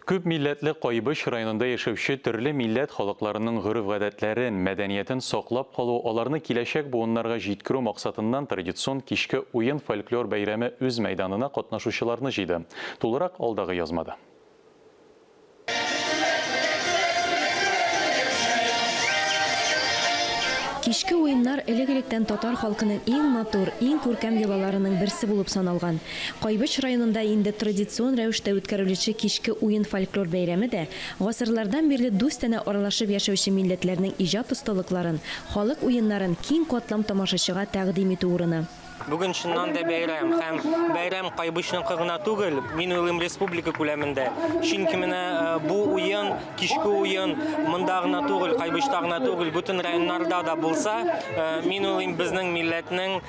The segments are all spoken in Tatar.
Күп милләтле Кайбыч районында яшәүче төрле милләт халыкларының гореф-гадәтләрен, мәдәниятен саклап калу, аларны киләчәк буыннарга җиткерү максатыннан традицион кичке уен-фольклор бәйрәме үз мәйданына катнашучыларны җыйды. Тулырак алдагы язмада. Кичке уеннар элек-электән татар халкының иң матур, иң күркәм йолаларының берсе булып саналган. Кайбыч районында инде традицион рәвештә үткәрелүче кичке уен-фольклор бәйрәме дә гасырлардан бирле дустанә аралашып яшәүче милләтләрнең иҗат осталыкларын, халык уеннарын киң катлам тамашачыга тәкъдим итү урыны. Бүген чыннан да бәйрәм. Һәм бәйрәм Кайбычныкы гына түгел, мин уйлыйм, республика күләмендә. Чөнки менә бу уен, кичке уен монда гына түгел, Кайбычта гына түгел, бөтен районнарда да булса, мин уйлыйм, безнең милләтнең,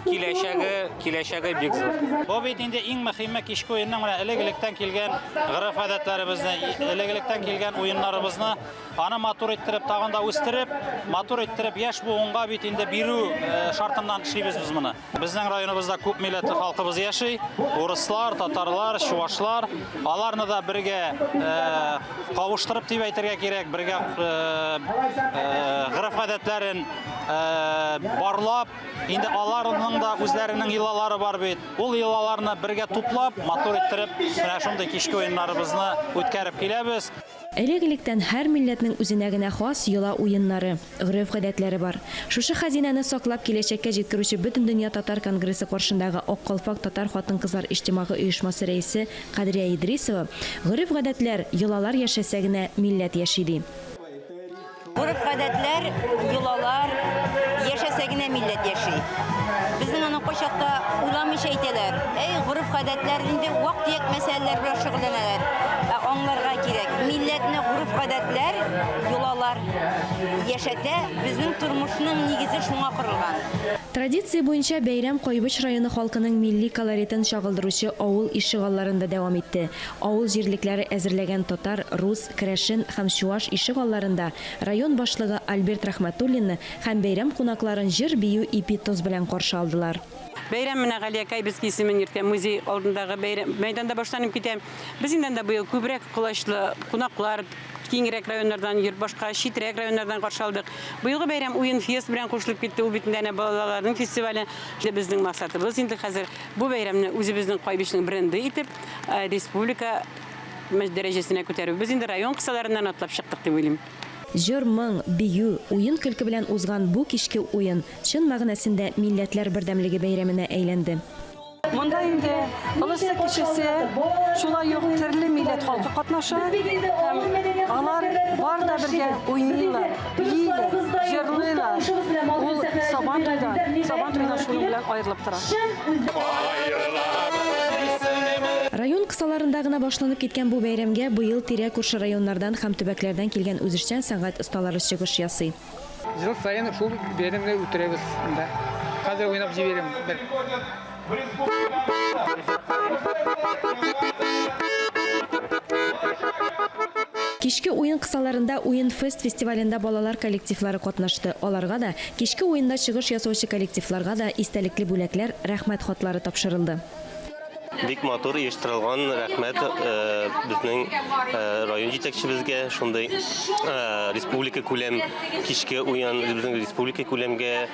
киләчәге киләчәге бик зур. Бу бит инде иң мөһиме кичке уенның менә элек-электән килгән гырыф гадәтләребезне, элек-электән килгән уеннарыбызны аны матур иттереп, тагын да үстереп, матур иттереп яшь буынга бит инде бирү э, шартыннан эшлибез без моны. Безнең районыбызда күп милләтле халкыбыз яши, урыслар, татарлар, чувашлар. Аларны да бергә э, кавыштырып дип әйтергә кирәк, бергә э, гырыф гадәтләрен барлап, инде аларның да үзләренең йолалары бар бит. Ул йолаларны бергә туплап, матур иттереп, менә шундый кичке уеннарыбызны үткәреп киләбез. Элек-электән һәр милләтнең үзенә генә хас йола-уеннары, гореф-гадәтләре бар. Шушы хәзинәне саклап, киләчәккә җиткерүче Бөтендөнья татар конгрессы каршындагы Ак калфак татар хатын-кызлар иҗтимагый оешмасы рәисе Кадрия Идрисова, Гореф-гадәтләр, йолалар яшәсә генә, милләт яши, ди. Гореф-гадәтләр, йолалар, яшәсә генә милләт яши. Безнең аны кайчакта уйламыйча әйтәләр. Әй, гореф-гадәтләр инде вак-төяк мәсьәләләр белән шөгыльләнәләр. Ә аңларга кирәк, милләтне гореф-гадәтләр, йолалар яшәтә, безнең тормышның нигезе шуңа корылган. Традиция буенча бәйрәм Кайбыч районы халкының милли колоритын чагылдыручы авыл ишегалларында дәвам итте. Авыл җирлекләре әзерләгән татар, рус, Керәшен һәм Чуаш ишегалларында район башлыгы Альберт Рәхмәтуллинны һәм бәйрәм кунакларын җыр-бию ипи тоз белән каршы алдылар. Бәйрәм менә Галия Кайбицкий исемен йөртә, музей алдындагы бәйрәм мәйданда башланып китә. Без инде анда быел күбрәк колачлы кунаклар, киңрәк районнардан йөрт башка читрәк районнардан каршы алдык. Быелгы бәйрәм уен фест белән кушылып китте, ул бит инде әнә балаларның фестивале. Безнең максатыбыз инде хәзер бу бәйрәмне үзебезнең Кайбичнең бренды итеп республика дәрәҗәсенә күтәрү. Без инде район кысаларыннан атлап чыктык дип уйлыйм. Җыр, моң, бию, уен-көлке белән узган бу кичке уен чын мәгънәсендә Милләтләр бердәмлеге бәйрәменә әйләнде. Монда инде олысы-кечесе, шулай ук төрле милләт халкы катнаша һәм алар бар да бергә уйныйлар. кысаларында гына башланып киткән бу бәйрәмгә быел тирә-күрше районнардан һәм төбәкләрдән килгән үзешчән сәнгать осталары чыгыш ясый. Ел саен шул бәйрәмне үтерәбез монда. Хәзер уйнап җибәрәм бер. Кичке уен кысаларында Уен-фест фестивалендә балалар коллективлары катнашты. Аларга да, кичке уенда чыгыш ясаучы коллективларга да истәлекле бүләкләр, Рәхмәт хатлары тапшырылды. Бик матур оештырылган, рәхмәт безнең район җитәкчебезгә, шундый республика күләм кичке уен, безнең республика күләмгә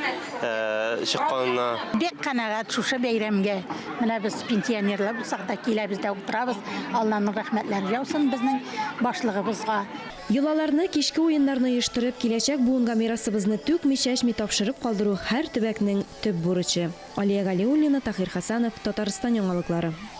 чыкканына. Бик канәгать шушы бәйрәмгә. Менә без пенсионерлар булсак та киләбез дә утырабыз. Алланың рәхмәтләре яусын безнең башлыгыбызга. Йолаларны, кичке уеннарны оештырып, киләчәк буынга мирасыбызны түкми-чәчми тапшырып калдыру һәр төбәкнең төп бурычы. Алия Галиуллина, Таһир Хәсәнов, Татарстан яңалыклары.